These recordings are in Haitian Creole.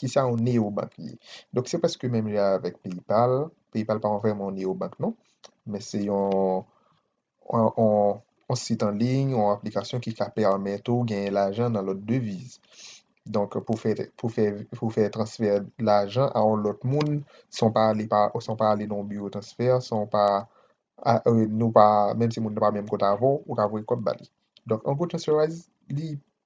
Kisa yon neyobank ye? Donk se prèske menm jan avèk PayPal. PayPal pa vrèman yon neyobank non. Men se yon sit an liy, yon aplikasyon ki ka pèmèt ou genyen lajan nan lòt deviz. Donk pou w fè transfè lajan a yon lòt moun san w pa ale nan yon biwo transfè, san w pa, menm si moun nan pa menm kot avè w, ou ka voye kòb ba li. Donk an gwo Transferwise li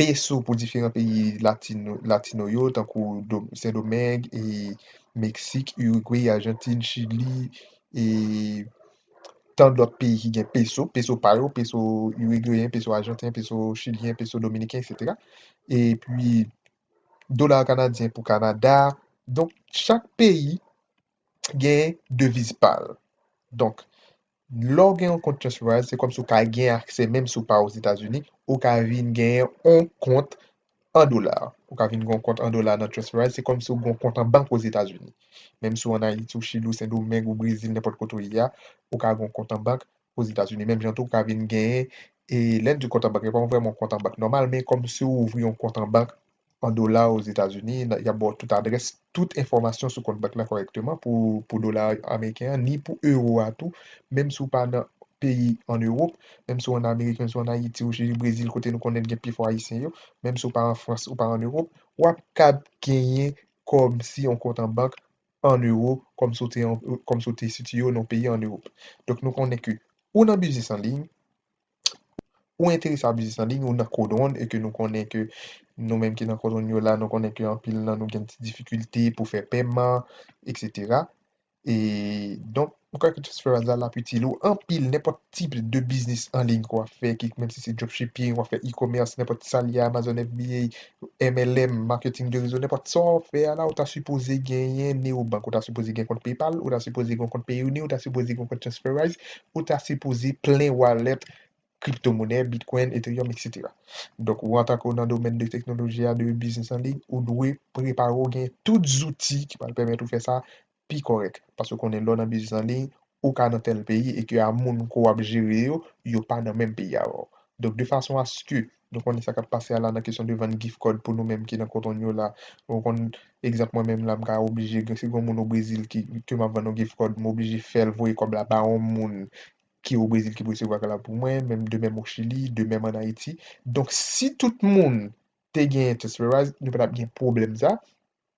peso pou diferan peyi latino yo tankou Sendomeng, Meksik, Urigwe, Ajantin, Chili e tan lòt peyi ki gen peso, peso pa yo, peso urigweyen, peso ajanten, peso chilyen, peso dominiken eksetera. E pi dola kanadyen pou Kanada. Donk chak peyi gen deviz pa l. Donk Lè w gen yon kont TransferWise, se kòmsi w ka gen aksè menm si w pa Ozetazini, ou ka vin gen yon kont an dola. Ou ka vin gen yon kont an dola nan TransferWise, se kòmsi w gen yon kont an bank Ozetazini. Menm si w an Ayiti, ou Chili, ou Sendomeng, ou Brezil, nenpòt kote w ye a, ou ka gen yon kont an bank Ozetazini. Menm jan tou, ou ka vin gen, e lè n di kont an bank, li pa vrèman yon kont an bank nòmal, men kòmsi w ouvri yon kont an bank an dola Ozetazini, y ap ba w tout adrès, tout enfòmasyon sou kont bank la kòrèkteman pou dola ameriken an, ni pou ewo a tou, menm si w pa nan peyi an Ewop, menm si w ann Amerik, menm si w ann Ayiti, ou si Brezil kote nou konnen gen pifò Ayisyen yo, menm si w pa an Frans, ou pa an Ewop, w ap kab genyen kòm si yon kont an bank an ewo kòm si w te sitiye w nan yon peyi an Ewop. Donk nou konnen ke ou nan biznis an liy, Ou enterese a biznis an liy ou nan kodwonn e ke nou konnen ke nou menm ki nan kodwonn yo la nou konnen ke anpil nan nou gen ti difikilte pou fè pèman etc. E donk ou kwè ke Transferwise la lap itil ou anpil nenpòt tip de biznis an liy ke wap fè ki menm si se dropshipping wap fè e-commerce nenpòt sa li a Amazon FBA MLM marketing de rezo nenpòt sa wap fè a la ou ta sipoze genyen Neobank ou ta sipoze gen kont PayPal ou ta sipoze gen kont Payoneer ou ta sipoze gen kont Transferwise ou ta sipoze plen wallet crypto monnaie, bitcoin, ethereum etc. Donk ou antanke ou nan domèn de teknoloji a, de biznis an liy, ou dwe prepare ou gen tout zouti ki pral pèmèt ou fè sa pi kòrèk. Paske ou konnen lè w nan biznis an liy, ou ka nan tèl peyi e ke a moun ke w ap jere yo, yo pa nan menm peyi avè w. Donk de fason aske Nou konnen sa k ap pase a la nan kesyon de vann gif kòd pou nou menm ki nan koton yo la. Ou konn egzanp mwen menm la m ka oblije si gen yon moun o Brezil ki ke m ap vann yon gif kòd m oblije fè l voye kòb la ba yon moun ki o Brezil ki pou resevwa kòb la pou mwen menm de menm o Chili de menm an Ayiti. Donk si tout moun te gen Transferwise nou pa t ap gen pwoblèm sa.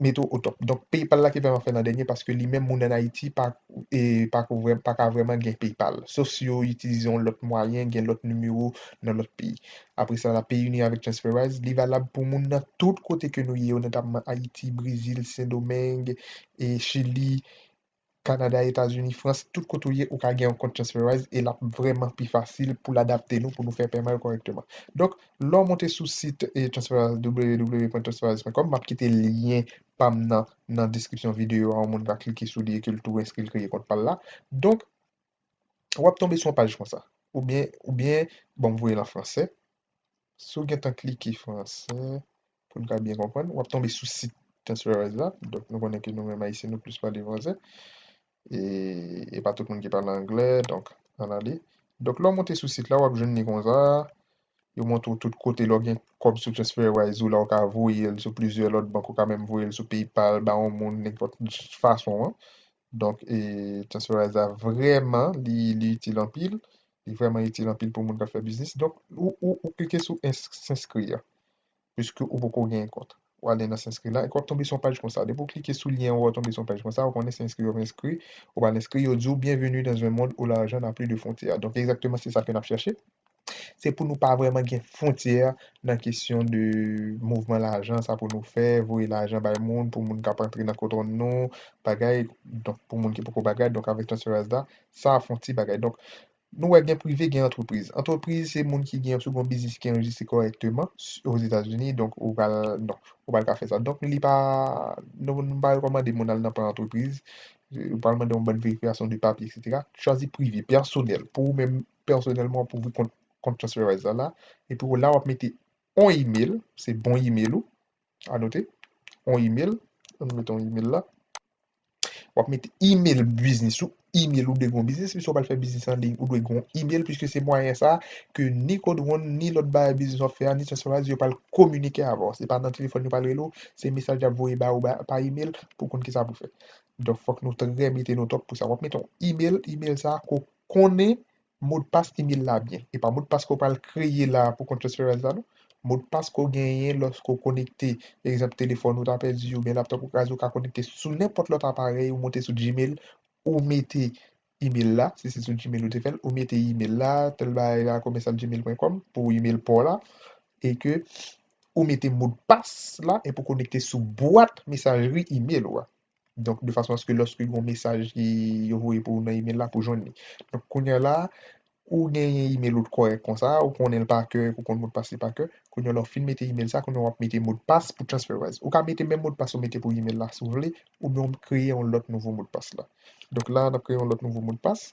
mete w otòp. Donk PayPal la ki vrèman fè nan dènye paske li menm moun an Ayiti pa pako vrèman pa ka vrèman gen PayPal. Sof si yo itilize yon lòt mwayen, gen lòt nimewo nan lòt peyi. Apre sa la PayUni avèk Transferwise li valab pou moun nan tout kote ke nou ye yo notapman Ayiti, Brezil, Sendomeng, Chili, Canada, Etats Unis, France, tout kote ou ye ou ka gen yon kont transferwise e lap vreman pi fasil poul adapte nou pou nou fè pèman yo kòrèkteman. Donk lè w monte sou sit transferwise www.transferwise.com map kite lyen pam nan nan deskripsyon videyo a yon moun ka klike sou li e ke l tou enskri l kreye kont pal la. Donk wap tonbe sou yon paj konsa oubyen oubyen bon m voye l an fransè Si w gentan klike fransè, pou n ka byen konprann, w ap tonbe sou sit Transferwise la. Donk nou konnen ke nou menm Ayisyen nou plis pale fransè. E e pa tout moun ki pale anglè. Donk, ann ale. Donk lè w monte sou sit la, w ap jwenn li konsa. Yo montre w tout kote. Lè w gen kòb sou Transferwise ou la, ou ka voye l sou plizyè lòt bank. Ou ka menm voye l sou PayPal, ba yon moun, nenpòt fason an. Donk e Transferwise la vrèman li itil anpil. Li vrèman itil anpil pou moun k ap fè biznis. Donk, ou klike sou S'inscrire a, piske ou poko genyen kont. Ou ale nan S'inscrire la, epi w ap tonbe sou yon paj konsa. Depi ou klike sou lyen an, ou tonbe sou yon paj konsa, ou konnen se enskri yo vle enskri. Ou pral enskri, yo di ou Bienvenue dans un monde où l'argent n'a plus de frontières. Donk, egzakteman se sa ke n ap chèche. Se pou nou pa vrèman gen fwontyè nan kesyon de mouvman lajan, sa pou nou fè, voye lajan bay moun, pou moun ka pa antre nan kont nou, bagay, donk pou moun ki poko bagay. Donk avèk Transferwise la, Sa fon ti bagay. Donk, nou wè gen prive, gen antrepriz. Antrepriz se moun ki gen, si w gen yon biznis ki anrejistre kòrèkteman Ozetazini, donk ou pral, non, ou pral ka fè sa. Donk li pa, nou nou pa rekòmande moun al nan plan antrepriz. Yo pral mande yon bann verifikasyon de papye eksetera. Chwazi prive, pèsonèl, pou ou menm pèsonèlman wap ouvri kont, kont Transferwise la la. Epi w la wap mete yon email, se bon email ou, Anote yon email, an nou mete yon email la. W ap mete email biznis ou, email ou dwe gen yon biznis piske w pral fè biznis an liy, ou dwe gen yon email piske se mwayen sa ke ni Codewon, ni lòt bay biznis w ap fè a, ni Transferwise yo pral kominike avè w. Se pa nan telefòn yo pral rele w, se mesaj y ap voye ba ou pa email pou w konn kisa pou w fè. Donk fòk nou trè mete nou tòp pou sa. W ap mete yon email, email sa a ke w konnen Modpas email la byen. E pa modpas ke w pral kreye la pou kont Transferwise la non. Modpas ke w genyen loske w konekte, egzanp telefòn ou ta pèdi oubyen laptop ou kraze ou ka konekte sou nenpòt lòt aparèy ou monte sou Gmail ou mete email la, si se sou Gmail ou te fè l, ou mete email la tèl bagay la commercial gmail pwen kòm pou email pa w la e ke ou mete modpas la epi w konekte sou bwat mesajri email ou a. Donk, de fason aske lòske gen yon mesaj ki yo voye pou ou nan email la, pou jwenn li. Donk, kounya la, ou genyen email ou t kòrèk konsa, ou konnen l pa kè, ou konn modpas li pa kè, kounya la ou fin mete email sa, kounya w ap mete modpas pou TransferWise. Ou ka mete menm modpas ou mete pou email la si w vle, oubyen w kreye yon lòt nouvo modpas la. Donk la, n ap kreye yon lòt nouvo modpas.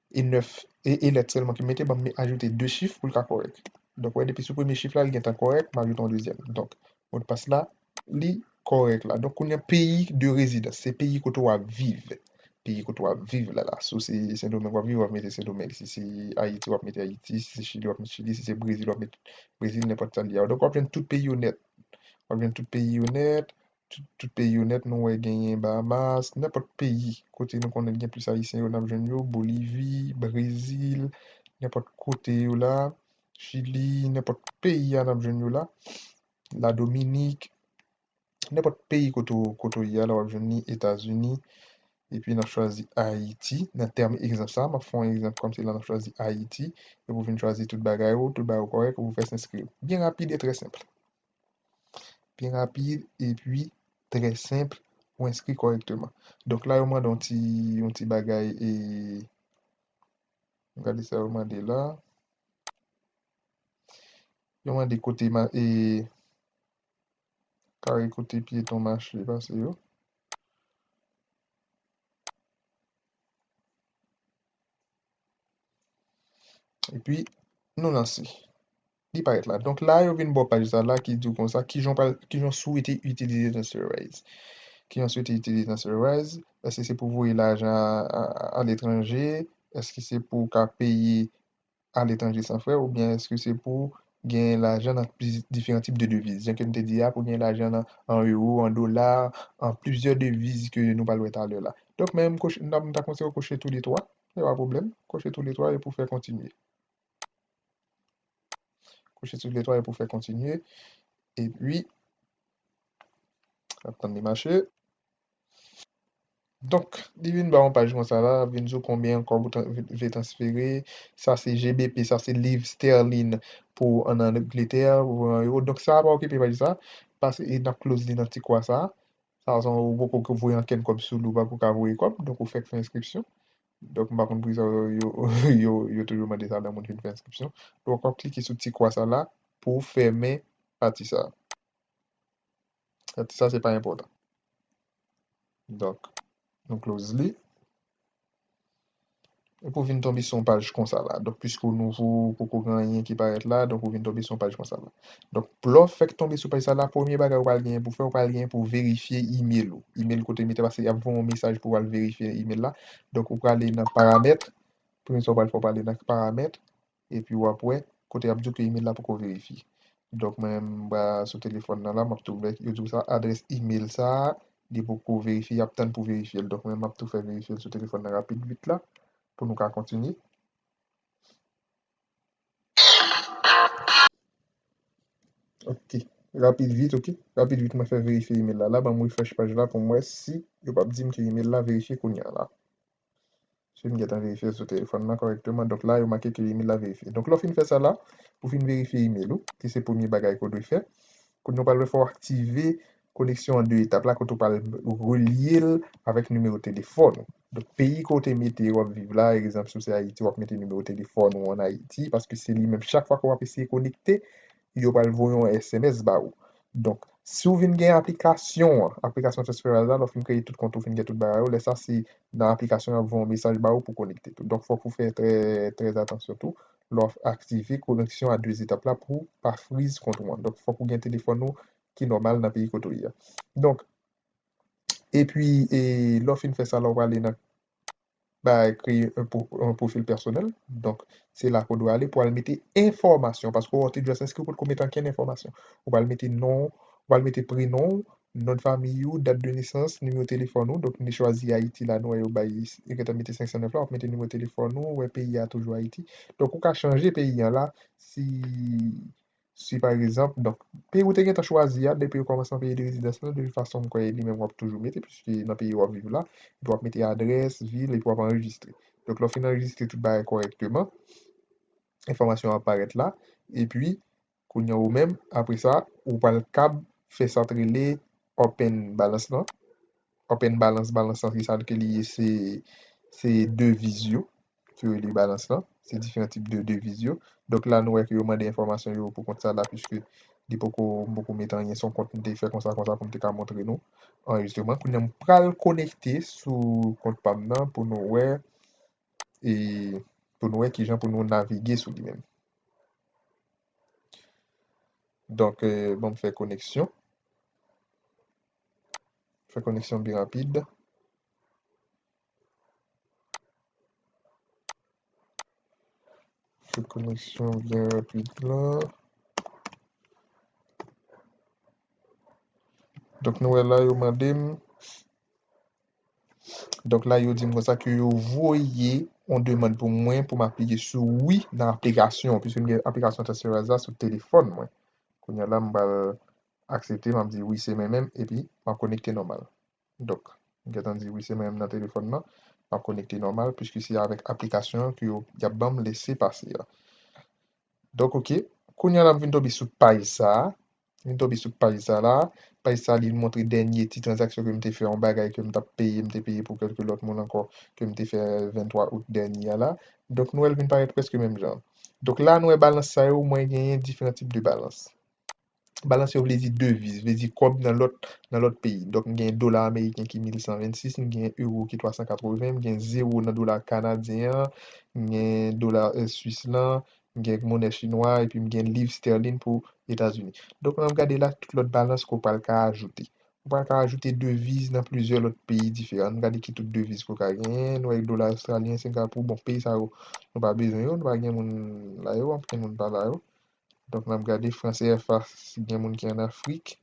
e 9 e e lèt sèlman ki mete ban m me ajoute 2 chif pou l ka kòrèk donk wè depi sou premye chif la li gentan kòrèk m ajoute yon dezyèm donk modpas la li kòrèk la donk kounye a peyi de rezidans se peyi kote w ap viv peyi kote w ap viv la la si w se sendomeng w ap viv w ap mete sendomeng si se ayiti w ap mete ayiti si se chili w ap mete chili si se brezil w ap mete brezil nenpòt sa l ye a donk w ap jwenn tout peyi yo nèt w ap jwenn tout peyi yo nèt Tout peyi yo nèt nou wè genyen Bahamas, nenpòt peyi kote nou konnen gen plis ayisyen yo nap jwenn yo, Bolivi, Brezil, nenpòt kote yo la, Chili, nenpòt peyi a nap jwenn yo la, La Dominik, nenpòt peyi kote w kote w ye a la wap jwenn li, Etazini, epi nap chwazi Ayiti nan tèm egzanp sa, map fè yon egzanp kòm se la nap chwazi Ayiti epi w vin chwazi tout bagay ou, tout bagay ou kòrèk epi w fè s enskri w. Byen rapid e trè senpl. Pi rapid epi trè senp pou enskri kòrèkteman. Donk la yo mande yon ti yon ti bagay e an gade sa yo mande la. Yo mande kote ma e kare kote pyeton mache pase yo. Epi nou lanse. Li parèt la. Donk la yo vin ba w paj sa la ki di w konsa ki jan w pral, ki jan w swete itilize Transferwise. Ki jan w swete itilize Transferwise. Èske se pou w voye lajan aletranje? Èske se pou w ka peye aletranje san frè oubyen èske se pou w gen lajan nan diferan tip de deviz? Jan ke m te di a pou w gen lajan nan an ewo, an dola, an plizyè deviz ke nou pral wè talè la. Donk men m ta konseye w kouche tou le twa. Se pa pwoblèm. Kouche tou le twa epi w fè kontinye. Kouche tout letwa yo pou fè kontinye. E pi, ap tann li mache. Donk, li vin ba yon paj kon sa la, vin di w konbyen kòb ou vle transfere. Sa se GBP, sa se liv sterline pou an Angletè, pou an euro. Donk sa a pa okipe paj sa a, pase e n ap close li nan ti kwa sa a. Sa a se yon, ou poko voye ankenn kòb sou li, ou pako ka voye kòb. Donk ou fèk fè enskripsyon. Donk m pa konn poukisa yo toujou mande sa lè moun fin fè enskripsyon. Donk w ap klike sou ti kwa sa la pou w fèmen pati sa. Pati sa se pa enpòtan. Donk nou close li. Epi w vin tonbe sou yon paj konsa la. Donk piske w nouvo, poko gen anyen ki parèt la, donk ou vin tonbe sou yon paj konsa la. Donk lè w fèk tonbe sou paj sa la, premye bagay ou pral genyen pou w fè, ou pral genyen pou w verifye imel ou. Imel kote mete paske y ap voye yon mesaj pou w al verifye imel la. Donk ou prale nan paramètre, premye sa ou pral fè ou prale nan paramètre epi w ap wè kote y ap di w ke imel la poko verifye. Donk mwen menm m pral sou telefòn nan la, m ap tou wè yo di w sa adrès imel sa a li poko verifye, y ap tann pou verifye l. Donk mwen menm m ap tou fè verifye l sou telefòn nan rapid vit la pou nou ka kontinye. Ok rapid vit ok rapid vit mwen fè verifye email la la banm refresh paj la poum wè si yo pap dim ke email la verifye kounya la paske m gentan verifyel sou telefòn nan kòrèkteman donk la yo make ke email la verifye donk lè w fin fè sa la ou fin verifye email ou ki se premye bagay ke w dwe fè kounya w pral wè fò w aktive koneksyon an 2 etap la kote w pral relye l avèk nimewo telefòn ou Donk peyi ke w te mete w ap viv la, egzanp si w se Ayiti w ap mete nimewo telefòn ou an Ayiti paske se li menm chak fwa ke w ap eseye konekte yo pral voye yon sms ba ou. Donk si w vin gen aplikasyon an, aplikasyon Trustpilot la lè w fin kreye tout kont ou fin gen tout bagay ou lè sa se nan aplikasyon an y ap voye yon mesaj ba ou pou w konekte tou. Donk fòk ou fè trè trè atansyon tou lè w ap aktive koneksyon a 2 etap la pou w pa friz kont ou an. Donk fòk ou gen telefòn ou ki nòmal nan peyi kote w ye a. Donk. Epi lè w fin fè sa la w prale nan bay kreye yon pwofil pèsonèl donk se la ke w dwe ale pou al mete enfòmasyon paske wè w te just enskri w potko mete ankenn enfòmasyon ou pral mete non w pral mete prenon w non de famiy ou dat de nesans nimewo telefòn ou donk nou chwazi ayiti la nou wè yo bay yo gentan mete 509 la w ap mete nimewo telefòn ou wè peyi a toujou ayiti donk ou ka chanje peyi an la si Si pa egzanp, donk, peyi ou te gentan chwazi a, depi ou kòmanse nan peyi de rezidans lan, de tout fason m kwè e li menm w ap toujou mete piske nan peyi w ap viv la, epi w ap mete adrès, vil, epi w ap anrejistre. Donk, lè w fin anrejistre tout bagay kòrèkteman, enfòmasyon an ap parèt la, epi, kounye an ou menm, apre sa, ou pral kab fè sa k rele open balans lan, open balans, balans lan se sa ke li ye, se, se deviz yo, ki rele balans lan. Se diferan tip de deviz yo. Donk la nou wè ke yo mande enfòmasyon yo pou kont sa la puiske li poko, m poko met anyen. Se yon kont m te fè konsa konsa pou m te ka montre nou anrejistreman. Kounye a m pral konekte sou kont pa m nan pou nou wè e pou nou wè ki jan pou nou navige sou li menm. Donk ban m fè koneksyon. Fè koneksyon bi rapid. Sou koneksyon byen rapid la. Donk nou wè la yo mande m. Donk la yo di m konsa ke yo voye yon demand pou mwen pou m aplike sou wi nan aplikasyon an. Piske m gen aplikasyon Transferize la sou telefòn mwen. Kounya la m pral aksepte, m ap di wi se mwen menm epi m ap konekte nòmal. Donk, m gentan di wi se mwen menm nan telefòn nan, m ap konekte nòmal puiske se avèk aplikasyon an ke yo, y ap ban m lese pase a. Donk ok, kounye a la m vin tonbe sou paj sa a, m vin tonbe sou paj sa la a, paj sa a li vin montre dènye ti tranzaksyon ke m te fè, yon bagay ke m t ap peye, m te peye pou kèlke lòt moun ankò, ke m te fè 23 out dènye a la. Donk nou wè l vin parèt prèske menm jan. Donk la nou wè balans sa yo, mwen genyen diferan tip de balans. Balans yo vle di deviz, vle di kòb nan lòt nan lòt peyi. Donk m gen dola ameriken ki 1126, m gen euro ki 380, m gen zewo nan dola kanadyen an, m gen dola swis lan, m gen monè chinwa a epi m gen liv stèlin pou Etazini. Donk lè w gade la tout lòt balans ke w pral ka ajoute. Ou pral ka ajoute deviz nan plizyè lòt peyi diferan. An nou gade ki tout deviz ke w ka genyen. Nou wè dola ostralyen, sengapou, bon peyi sa yo nou pa bezwen yo, nou pa gen moun la yo, anpil moun pa la yo. Donk n ap gade fran CFA si gen moun ki ann Afrik.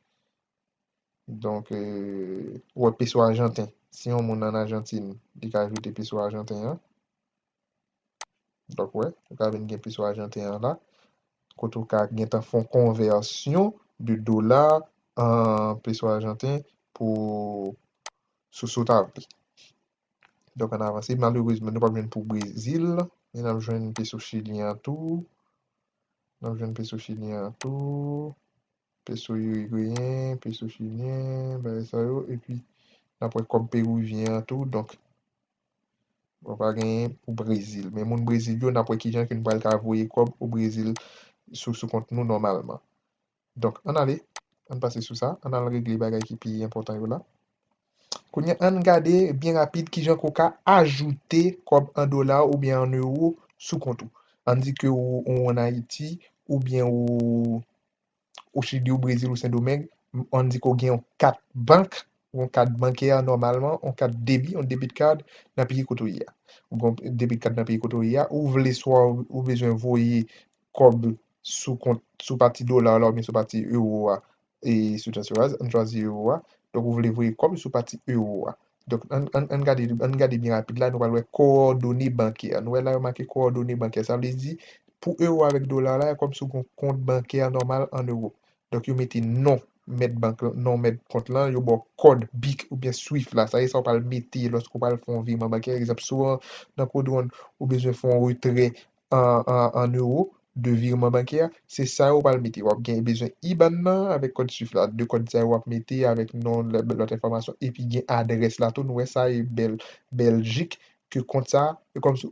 Donk ou wè peso ajanten. Si yon moun ann Ajantin, li ka ajoute peso ajanten an. Donk ou wè, ou ka vin gen peso ajanten an la. Kote ou ka gentan fè yon konvèsyon de dola an peso ajanten pou sou sa w ta vle. Donk ann avanse. Malerezman nou pap jwenn pou Brezil. Men nap jwenn peso chilyen an tou. Nap jwenn peso chilyen an tou. Peso irigweyen, peso chilyen, bagay sa yo. Epi nap wè kòb peruvyen an tou. Donk bon pa genyen pou Brezil. Men moun Brezil yo nap wè kijan ke nou pral ka voye kòb o Brezil sou kont nou nòmalman. Donk, ann ale, ann pase sou sa, ann al regle bagay ki pi enpòtan yo la. Kounye a, ann gade byen rapid ki jan ke w ka ajoute kòb an dola oubyen an ewo sou kont ou. Ann di ke ou ann Ayiti oubyen ou o Chili, o Brezil, o Sendomeng, ann di ke w gen yon kat bank, yon kat bankè nòmalman, yon kat debi, yon debit card, nan peyi kote w ye a. Ou gen yon debit card nan peyi kote w ye a, ou vle swa ou bezwen voye kòb sou kont, sou pati dola la oubyen sou pati euro a e sou transferwise, an chwazi euro a, donk ou vle voye kòb sou pati euro a. Donk an an an gade an n gade byen rapid la nou pral wè kowòdone bankè nou wè la yo make kowòdone bankè sa vle di pou euro avèk dola la kòm sou gon kont bankè nòmal an euro donk yo mete non mèt bank lan non mèt kont lan yo ba w kòd bic oubyen swift la sa se sa w pral mete lòske w pral fè yon viman bankè egzanp si w nan kod wonn ou bezwen fè yon retrè an euro de virman bankè a, se sa yo ou pral mete. Wap gen bezwen IBAN nan avèk kòd swift la. De kòd sa yo wap mete avèk non lòt enfòmasyon epi gen adrès la tou nou wè sa e bèl Beljik ke kont sa e kòm si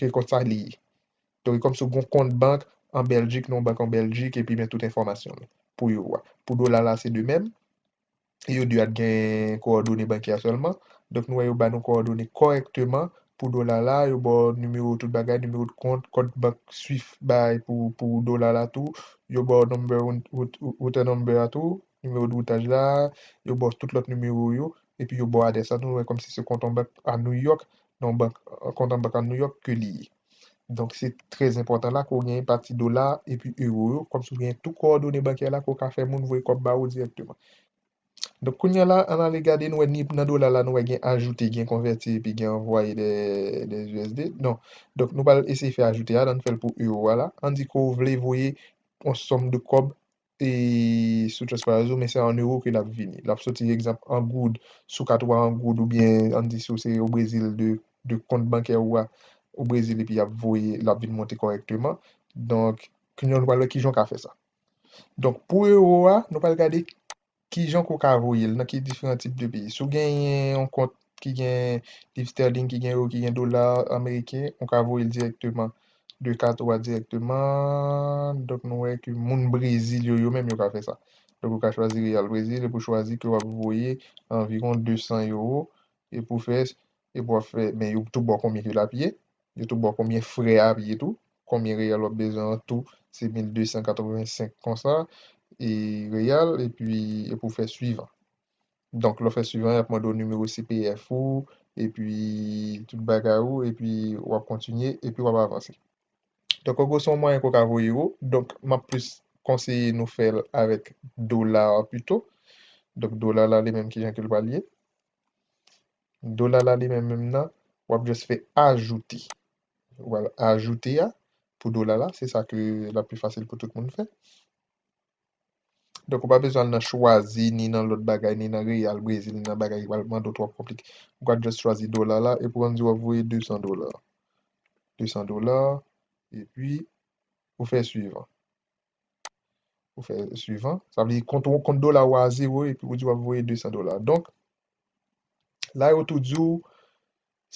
ke kont sa li ye. Donk e kòm si ou gon kont bank an Beljik nan yon bank an Beljik epi men tout enfòmasyon pou euro a. Pou dola la se de mèm. e yo di a t gen kowòdone bankè a sèlman, donk nou wè yo ba nou kowòdone kòrèkteman pou dola la, yo ba w nimewo tout bagay, nimewo de kont, kòd bank swift bay pou dola la tou, yo ba w number router number a tou, nimewo de routaj la, yo ba w tout lòt nimewo yo, epi yo ba w adrès la tou, nou wè kòmsi se kont an bank a New York, nan yon bank, kont an bank a New York ke li ye. Donk se trè enpòtan la ke w genyen pati dola epi ewo yo, kòm sa w genyen tou kowòdone bankè la ke w ka fè moun voye kòb ba ou dirèkteman. Donk kounya la an n ale gade nou wè ni nan dola la nou wè gen ajoute, gen konvèti epi gen anvwaye dè usd. Non. Donk nou pral eseye fè ajoute a la, an n fè l pou ewo a la. An n di ke w vle voye yon sòm de kòb e sou Trustpilot ou men se an euro ke lap vini. Lap soti egzanp an goud sou kat ou a an goud oubyen an di si ou se o Brezil de de kont bankè ou a o Brezil epi yap voye lap vin monte kòrèkteman. Donk kounya nou pral wè kijan ou ka fè sa. Donk pou euro a nou pral gade. Ki jan ke w ka voye l? Nan ki diferan tip de peyi? Si w genyen yon kont ki gen liv sterling, ki gen euro, ki gen dola ameriken, ou ka voye l dirèkteman de kat ou a dirèkteman. Donk nou wè ke moun Brezil yo, yo menm yo ka fè sa. Donk ou ka chwazi Real Brezil epi w chwazi ke w ap voye anviwon 200 euro epi w fè epi wap fè men yo tou baw konbyen ke lap ye yo tou baw konbyen frè a ap ye tou konbyen real wap bezwen an tou se 1285 konsa e real epi epi ou fè suivan donk lè ou fè suivan yap mande w nimewo CPF ou epi tout bagay ou epi wap kontinye epi wap avanse donk an gwo se yon mwayen ke w ka voye ewo donk map plis konseye nou fèl avèk dola pito donk dola la li menm kijan ke l pral ye. Dola la li menm menm nan, wap just fè ajoute. Ou al ajoute a pou dola la, se sa ke lap pi fasil pou tout moun fè. Donk ou pa bezwen al nan chwazi, ni nan lòt bagay, ni nan reyal Brezil, ni nan bagay ki pral mande ou twòp konplike. Ou ka just chwazi dola la, epi wap di wap voye 200 dola. 200 dola, epi ou fè suivan. Ou fè suivan. Sa vle di kont ou, kont dola ou a a zewo epi ou di wap voye 200 dola. Donk, la yo tou di ou,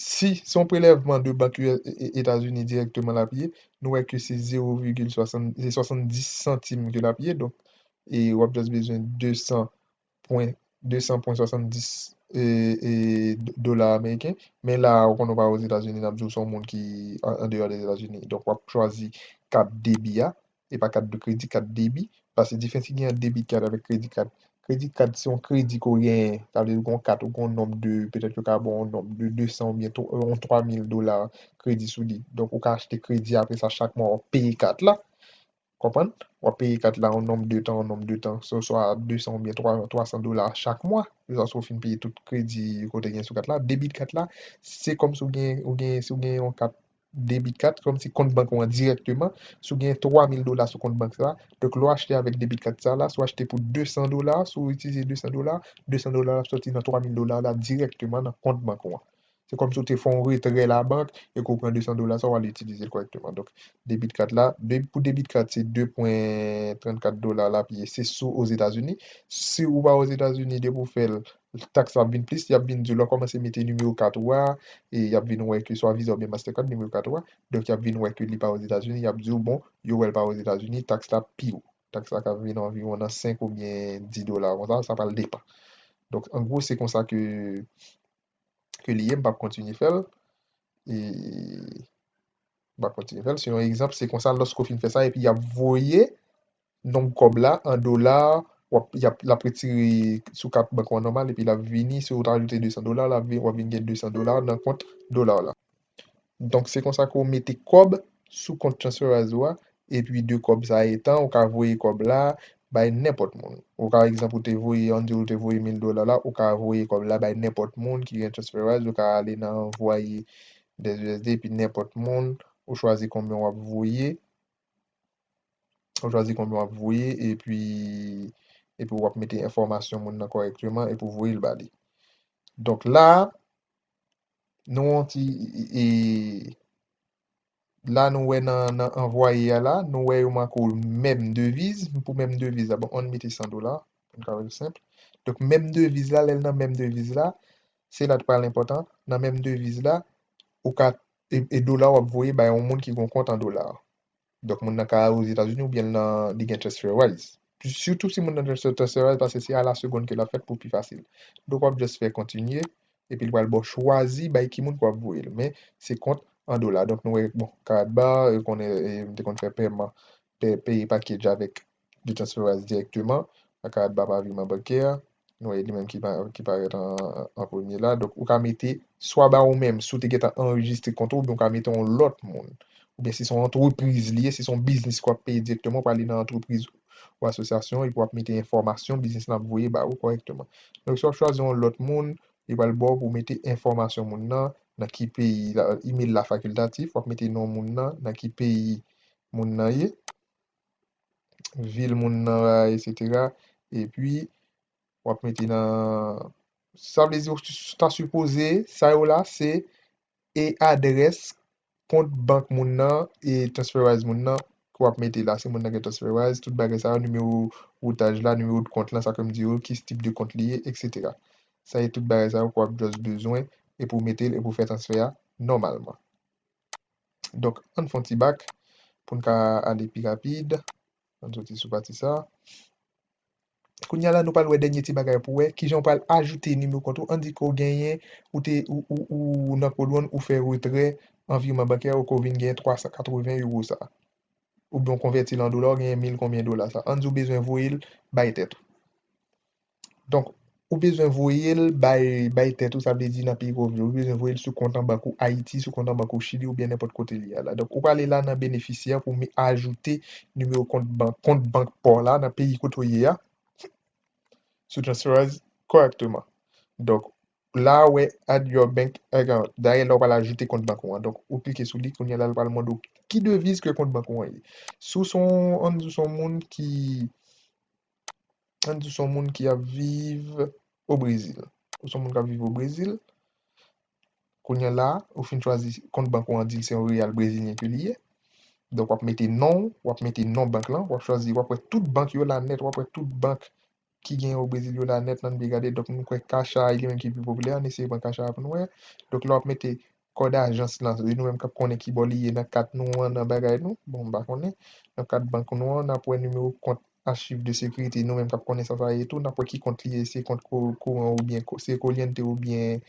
si se yon prelèvman de bank Etazini dirèkteman l ap ye, nou wè ke se zewo vigil swasann, se 70 santim ke l ap ye, donk, e wap just bezwen 200 pwen 200 pwen 70 dola ameriken men la ou konnen ou pa ozetazini nap diw son moun ki andeyò dezetazini donk wap chwazi kat debi a e pa kat de kredi kat debi paske diferans ki gen ant debit card avèk credit card credit card se yon kredi ke w genyen sa vle di ou gen yon kat ou gen yon nonb de petèt yo ka baw yon nonb de 200 oubyen yon 3000 dola kredi sou li donk ou ka achte kredi apresa chak mwa wap peye kat la Konprann? W ap peye kat la yon nonb de tan, yon nonb de tan, se oswa 200 oubyen 3, 300 dola chak mwa, jiskaske w fin peye tout kredi ke w te gen sou kat la. Debit kat la, se kòmsi w gen, ou gen, si w gen yon kat debit kat, se kòmsi kont bank ou an dirèkteman, si w gen 3000 dola sou kont bank sa, donk lè w achte avèk debit kat sa la, si w achte pou 200 dola, si w itilize 200 dola, 200 dola w ap sòti nan 3000 dola w la dirèkteman nan kont bank ou an. Se kòmsi ou te fè yon retrè labank e ke ou pran 200 dola sa, ou al itilize l kòrèkteman. Donk, debit card la, pou debit card se 2 pwen 34 dola l ap ye, se si w Ozetazini. Si ou pa Ozetazini, depi ou fè l, taks la ap vin plis, y ap vin di w lè w kòmanse mete nimewo kat ou a, e y ap vin wè ke swa Visa oubyen Mastercard nimewo kat ou a, donk y ap vin wè ke li pa Ozetazini, y ap di w bon, yo wè l pa Ozetazini, taks la pi wo. Taks la ka vin anviwon nan 5 oubyen 10 dola konsa, sa pral depan. Donk, an gwo se konsa ke ke li ye m pap kontinye fè l e m pap kontinye fè l se yon egzanp se konsa loske w fin fè sa epi y ap voye nonb kòb la an dola w ap y ap l ap retire sou kat bank ou an nòmal epi l ap vini si w te ajoute 200 dola w ap vin gen 200 dola nan kont dola w la. Donk se konsa ke w mete kòb sou kont Transferwise ou a, epi de kòb sa etan, ou ka voye kòb la bay nenpòt moun. Ou ka egzanp ou te voye, an n di w ou te voye 1000 dola la, ou ka voye kòb la bay nenpòt moun ki gen Transferwise, ou ka ale nan anvwaye des usd epi nenpòt moun, ou chwazi konbyen w ap voye, ou chwazi konbyen w ap voye epi epi w ap mete enfòmasyon moun nan kòrèkteman epi w voye l ba li. Donk la a, nou yon ti e la nou wè nan nan anvwaye a la nou wè yo manko menm deviz pou menm deviz la bon ann mete 100 dola poun ka wèl senp donk menm deviz la lèl nan menm deviz la se la t pral enpòtan nan menm deviz la ou ka e dola wap voye bay yon moun ki gon kont an dola. Donk moun nan ka ale Ozetazini oubyen l nan li gen transfer wise. Sitou si moun nan gen transfer wise paske se a la seconde ke l ap fèt pou pi fasil. Donk w ap just fè kontinye epi l pral ba w chwazi bay ki moun ke w ap voye l. Men se kont an dola. Donk nou wè bon Karatbar yo konnen m te konn fè pèman peye package avèk li transfere as dirèkteman a ka ba pa viman bankè a nou wè li menm ki pa ki parèt an premye la donk ou ka mete swa ba ou menm si w te gentan anrejistre kont ou oubyen ou ka mete yon lòt moun oubyen si se yon antrepriz li ye si se yon biznis ke w ap peye dirèkteman ou prale nan antrepriz ou asosyasyon epi w ap mete enfòmasyon biznis lan ap voye ba ou kòrèkteman donk si w ap chwazi yon lòt moun li pral ba w pou w mete enfòmasyon moun nan nan ki peyi email la facultatif w ap mete non moun nan nan ki peyi moun nan ye. vil moun nan la et cetera et puis wap mete nan sa vle di ou ta sipoze sa yo la se e adrès kont bank moun nan e transferwise moun nan ke wap mete la si moun nan gen transferwise tout bagay sa yo nimewo woutaj la nimewo de kont la sa kem di yo ki tip de kont li ye et cetera sa e tout bagay sa yo ke wap just bezwen e pou metel e pou fè transfè a nòmalman. Donk, ann fè yon ti bak pou n ka ale pi rapid. Ann soti sou pati sa a. Kounye a la, nou pral wè dènye ti bagay pou wè ki jan ou pral ajoute nimewo kont ou. Ann di ke ou genyen, ou te, ou nan Cold One, ou fè retrè an virman bankè ou ke ou vin genyen 380 euro sa a. Oubyen ou konvèti l an dola, ou genyen mil konbyen dola sa a. Ann di ou bezwen voye l bay tèt ou. Donk, ou bezwen voye l bay bay tèt ou, sa vle di nan peyi ke w viv, ou bezwen voye l sou kont an bank ou Ayiti, sou kont an bank ou Chili oubyen nenpòt kote li ye a la. Donk, ou prale la nan benefisyè pou m ajoute nimewo kont bank kont bank pa w la nan peyi kote w ye a sou Transferize kòrèkteman. Donk, la ou wè Add your bank account, dayè la ou pral ajoute kont bank ou an. Donk, ou klike sou li, kounye a la l pral mande w ki deviz ke kont bank ou an ye. Si w se yon an, si w se yon moun ki Ann di son moun ki ap viv o Brezil. Ou son moun k ap viv o Brezil. Kounye la, ou fin chwazi kont bank ou an di l se yon reyal brezilyen ke li ye. Donk w ap mete non ou, w ap mete non bank lan, w ap chwazi, w ap wè tout bank yo la nèt, w ap wè tout bank ki genyen o Brezil yo la nèt nan, n ap gade, donk nou kwè Caixa a li menm ki pi popilè an, n eseye pran Caixa a pou n wè. Donk lè w ap mete Kòd ajans lan, se nou menm k ap konnen ki bò li ye nan kat nou an, nan bagay nou, bon m pa konnen, nan kat bank nou an, n ap wè nimewo kont Achiv de Sekirite, nou menm k ap konnen sa sa ye tou, n ap wè ki kont li ye, se kont kouran oubyen se Coliente oubyen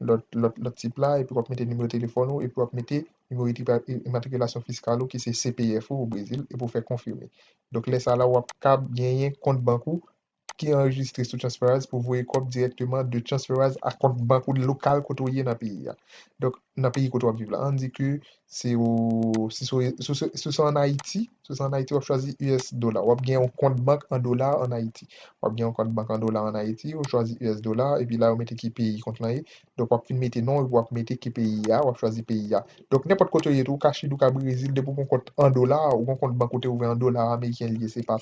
lòt lòt lòt tip la, epi w ap mete nimewo telefòn ou epi w ap mete nimewo imatrikilasyon fiskal ou ki se CPF ou Brezil epi w fè konfime. Donk lè sa la w ap kab genyen kont bank ou ki anrejistre sou Transferwise pou voye kòb dirèkteman de Transferwise a kont bank ou lokal kote ou ye nan peyi a. Donk, nan peyi kote w ap viv la. An di ke se o, si se o, si se an Ayiti, si se an Ayiti w ap chwazi us dola. W ap gen yon kont bank an dola an Ayiti. W ap gen yon kont bank an dola an Ayiti, ou chwazi us dola, epi la yo mete ki peyi kont lan ye. Donk w ap fin mete non epi w ap mete ki peyi a, w ap chwazi peyi a. Donk nenpòt kote ou ye tou, ou ka Chili, ou ka Brezil, depi ou gen yon kont an dola, ou gen yon kont bank ou te ouvè an dola ameriken li ye, se pa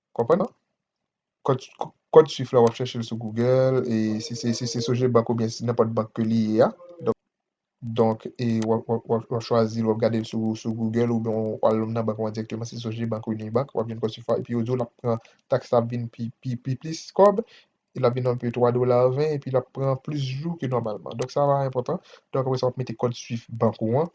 Konprann non. Kòd kòd swift la wap chèchel sou Google e si se si se soje bank oubyen si nenpòt bank ke li ye a donk donk e wap wap wap wap chwazil wap gadel sou sou Google oubyen w al lom nan bank wan dirèkteman si se soje bank ou Uni bank wap jwenn kòd swift la epi yo diw lap pran tax la ap vin pi pi pi plis kòb e lap vin anpe 3 dolar 20 epi lap pran plis jou ke nòmalman donk sa va enpòtan donk apresa wap mete kòd swift bank ou an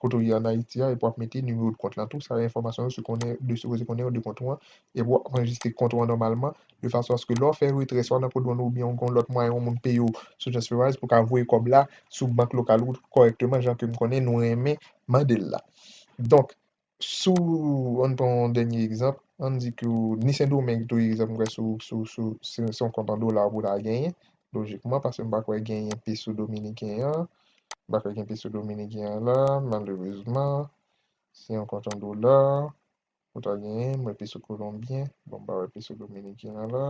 kote ou ye an Ayiti a epi wap mete nimewo de kont lan tou, sa yo enfòmasyon yo sipoze konnen yo de kont ou an, epi wap anrejistre kont ou an nòmalman de fason aske lè w fè retrè swa nan Codewon ou oubyen ou gen yon lòt mwayen yon moun peye w sou Transferwise pou ka voye kòb la sou bank lokal ou kòrèkteman jan ke m konnen nou renmen mande l la. Donk, si w, an n pran yon dènye egzanp, an n di ke w ni Sendomeng tou egzanp m kwè sou sou sou se yon kont an dola pou w ta genyen lojikman paske m pa kwè genyen peso dominiken an. Mpa kwè gen peso dominiken an la malerezman se yon kont an dola ou ta genyen mwè peso kolonbyen bon mpa wè peso dominiken an la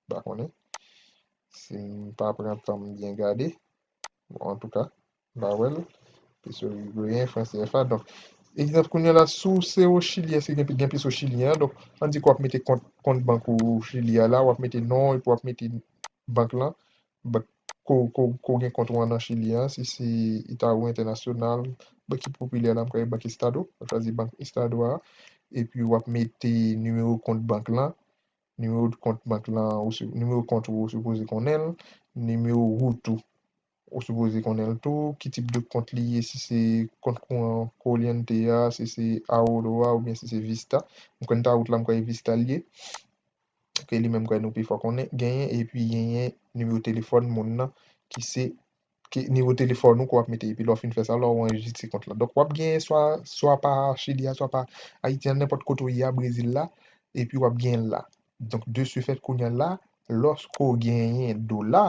mpa konnen sim pa pran tanm byen gade bon antouka mpa wèl peso irigoyen fran cfa donk egzanp kounya la sou se o chili eske gen gen peso chilyen an donk an di ke wap mete kont kont bank ou chili a la wap mete non epi wap mete bank lan But ko gen kont ou an nan chili an si se eta ou entènasyonal bank ki popilè la m kwè e bank estado wap chwazi bank estado a epi wap mete nimewo kont bank lan nimewo kont bank lan ou si nimewo kont ou ou sipoze konnenl nimewo wout ou ou sipoze konnenl tou ki tip de kont li ye si se kont kouran corliente a si se aoro a oubyen si se vista m kwè n ta wout la m kwè e vista l ye. ke li menm kwè nou pi fò konnen, genyen epi genyen nimewo telefòn moun nan ki se ke nimewo telefòn ou ke w ap mete epi lè w fin fè sa la ou anrejistre kont la. Donk w ap genyen swa swa pa Chili a swa pa Ayiti a nenpòt kote ou ye a Brezil la epi w ap genyen l la. Donk de se fèt kounye a la lòske w genyen dola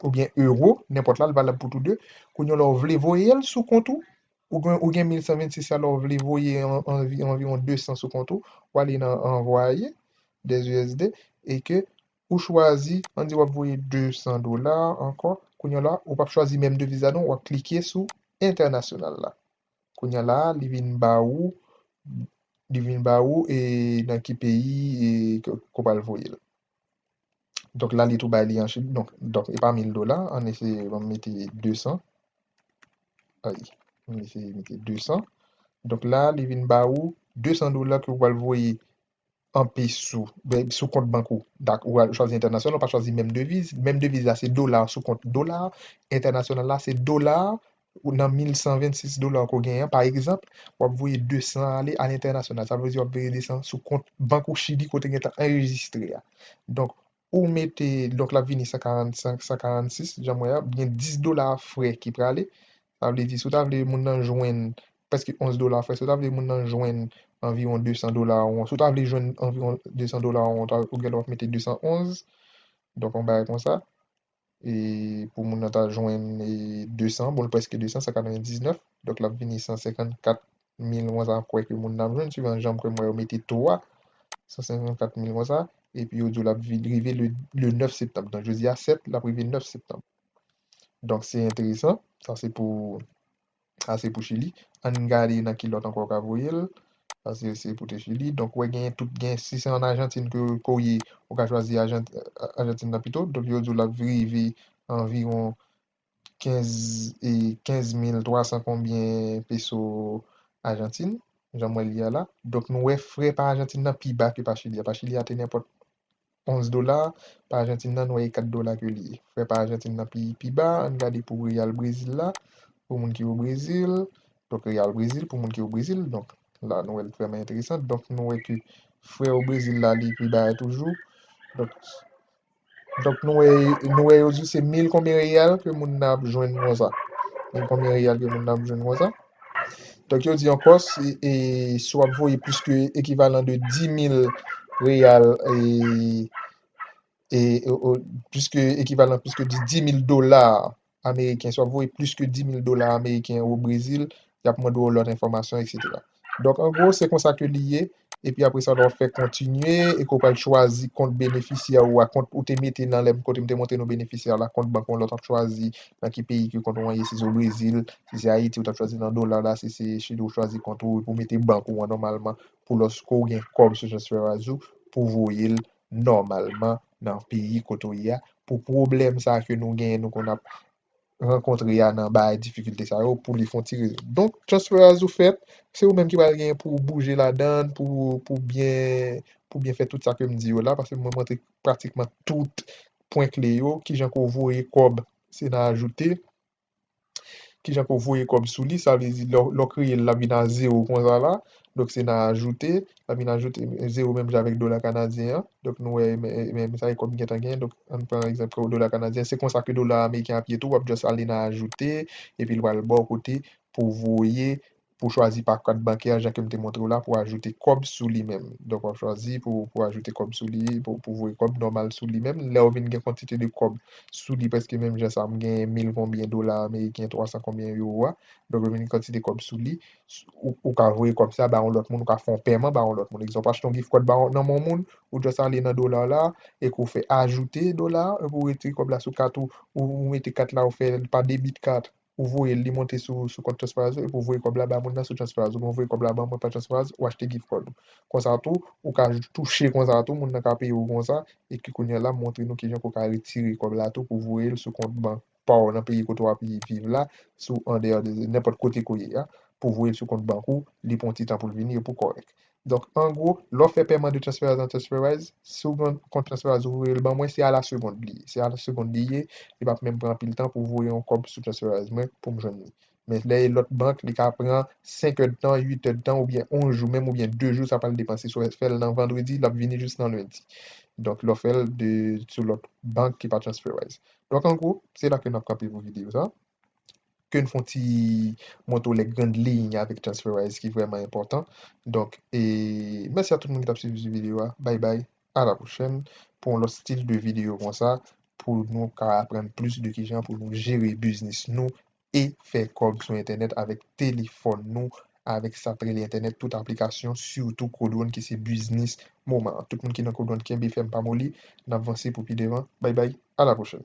oubyen euro, nenpòt la, l valab pou tou de, kounye an lè w vle voye l sou kont ou, ou gen 1126 la, lè w vle voye anviwon 200 sou kont ou, w ale nan anvwaye des usd e ke ou chwazi, an di w ap voye 200 dola ankò, kounye an la, ou pa p chwazi menm deviz la non, w ap klike sou entènasyonal la. Kounye an la, li vin ba ou, li vin ba ou e nan ki peyi e ke ou pral voye l. Donk la li tou bay li an chip. Donk donk e pa 1000 dola. Ann eseye ann mete 200. Ay ann eseye mete 200. Donk la li vin ba ou 200 dola ke ou pral voye an peso. Ben sou kont bank ou. Dak ou al chwazi entènasyonal ou pa chwazi menm deviz. Menm deviz la se dola sou kont dola. Entènasyonal la se dola ou nan 1126 dola ou ke w genyen an, pa egzanp, w ap voye 200 ale alentènasyonal. Sa vle di w ap voye 200 sou kont bank ou Chili kote gen tan anrejistre a. Donk, ou mete, donk l ap vini 145, 146, jan m wè a, gen 10 dola frè ki prale. Sa vle di si w ta vle moun nan jwenn prèske 11 dola frè, si w ta vle moun nan jwenn anviwon 200 dola ou an, si w ta vle jwenn anviwon 200 dola ou an, ou ta, ou gen lè w ap mete 211, donk yon bagay konsa. e pou moun nan ta jwenn 200, bon l prèske 200, 199, donk l ap vini 154 mil konsa m kwè ke moun nan ap jwenn, suivan jan m kwè m wè yo mete to a, 154 mil konsa, epi yo di w l ap rive le 9 septanm, donk jodi a 7, l ap rive 9 septanm. Donk se enteresan, sa se pou. Sa se pou chili. Ann gade nan ki lòt ankò yo ka voye l. Sa se se pou te chili. Donk ou wè genyen tout gen si se an Ajantin ke ke w ye ou ka chwazi ajant Ajantin nan pito. Donk yo di w l ap rive anviwon 15 e 15 mil 300 konbyen peso Ajantin. Jan m wè l ye a la. Donk nou wè frè pa Ajantin nan pi ba ke pa chili a. Pa chili a te nenpòt Onz dola pa ajantin nan nwè e 4 dola ke li ye. Frè pa ajantin nan pi pi ba, ann gade pou reyal brezil la, pou moun ki o brezil, donk reyal brezil pou moun ki o brezil, donk la nou wèl vrèman enteresan, donk nou wè ke frè o brezil la li pi ba a toujou, donk donk nou wè nou wè yo di se mil konbyen reyal ke moun nan ap jwenn konsa, mil konbyen reyal ke moun nan ap jwenn konsa. Donk yo di yon pòs e si w ap voye plis ke ekivalan de 10.000 reyal e plis ke ekivalan plis ke 10.000 dola ameriken, si w ap voye plis ke 10.000 dola ameriken o Brezil, y ap mande w lòt enfòmasyon, eksetera. Donk an gwo se konsa ke li ye. epi apre sa wap fè kontinye epi ou pral chwazi kont benefisyè ou a kont ou te mete nan lèm kote m te montre nou benefisyè la kont bank ou an lè w tap chwazi nan ki peyi ke kont ou an ye si se o brezil si se ayiti ou tap chwazi nan dola la si se chili ou chwazi kont ou epi ou mete bank ou an nòmalman pou lòske ou gen kòb sou transferwise ou pou voye l nòmalman nan peyi kote ou ye a pou pwoblèm sa ke nou genyen nou konn ap rankontre a nan bay difikilte sa yo pou li fon ti rezon. Donk transferaz ou fèt, se ou menm ki pral gen pou bouje ladan, pou byen fè tout sa ke m di yo la, paske mwen montre pratikman tout pwen kle yo, kijan ke w voye kòb, se nan ajoute, kijan ke w voye kòb sou li, sa vle di lè w kreye l, l ap vin a zewo konsa la, donk se nan ajoute, la vin ajoute zero menm jan avèk dola kanadyen an, donk nou wè menm sa e kòb gentan gen, donk ann pran egzanp kòb dola kanadyen, se konsa ke dola ameriken ap ye tou, wap just ale nan ajoute, epi li pral baw kote pou voye, pou chwazi pa kat bankè an jan kem te montrew la pou ajoute kòb sou li menm, donk wap chwazi pou pou ajoute kòb sou li, pou voye kòb nòmal sou li menm, lèw vin gen kantite de kòb sou li prèske menm jan sa, m gen mil konbyen dola ameriken, twa san konbyen euro a, donk vin gen kantite kòb sou li, Ou ka voye kòb sa ba yon lòt moun, ou ka fè yon pèman ba yon lòt moun. Egzanp, ou achte yon gift card ba yon nan men yon moun, ou just ale nan dola w la, epi ou fè ajoute dola, epi ou retire kòb la sou kat ou, ou mete kat la ou fè l pa debit card, ou voye l, li monte sou kont transferwise ou, epi ou voye kòb la ba moun nan sou transferwise ou, oubyen ou voye kòb la ban mwen pa transferwise, ou achte gift card ou. Konsa tou, ou ka touche konsa tou, moun nan ka peye ou konsa, epi kounye a la m montre nou kijan ke w ka retire kòb la tou pou voye l sou kont bank ou. pa w nan peyi kote w ap viv la, si w andeyò de nenpòt kote ke w ye a, pou voye l sou kont bank ou, li pran ti tan pou l vini epi w kòrèk. Donk, an gwo, lè w fè pèman de transferaz an transferaz, si w gen yon kont transferaz ou voye l ban mwen, se a la segond li ye. Se a la segond li ye, li p ap menm pran anpil tan pou voye yon kòb sou transferaz mwen pou m jwenn li. Men lè e lòt bank li ka pran 5 èdtan, 8 èdtan oubyen 11 jou menm oubyen 2 jou sa pral depan si sou fèl nan vandredi lap vini jis nan lendi donk lè w fèl de sou lòt bank ki pa transferwise donk an gwo se la ke nap kanpe pou videyo sa ke n fon ti montre w lè grand liy avèk transferwise ki vrèman enpòtan donk e mèsi a tout moun ki tap swiv videyo a bay bay a la pwochèn pou yon lòt stil de videyo konsa pou nou ka aprann plis de kijan pou nou jere biznis nou e fè kòb sou entènèt avèk telefòn nou avèk sa t rele entènèt tout aplikasyon sitou kodwonn ki se biznis moman an tout moun ki nan kodwonn kenbe fèm pa moli nap vanse pou pi devan bay bay a la pwochèn.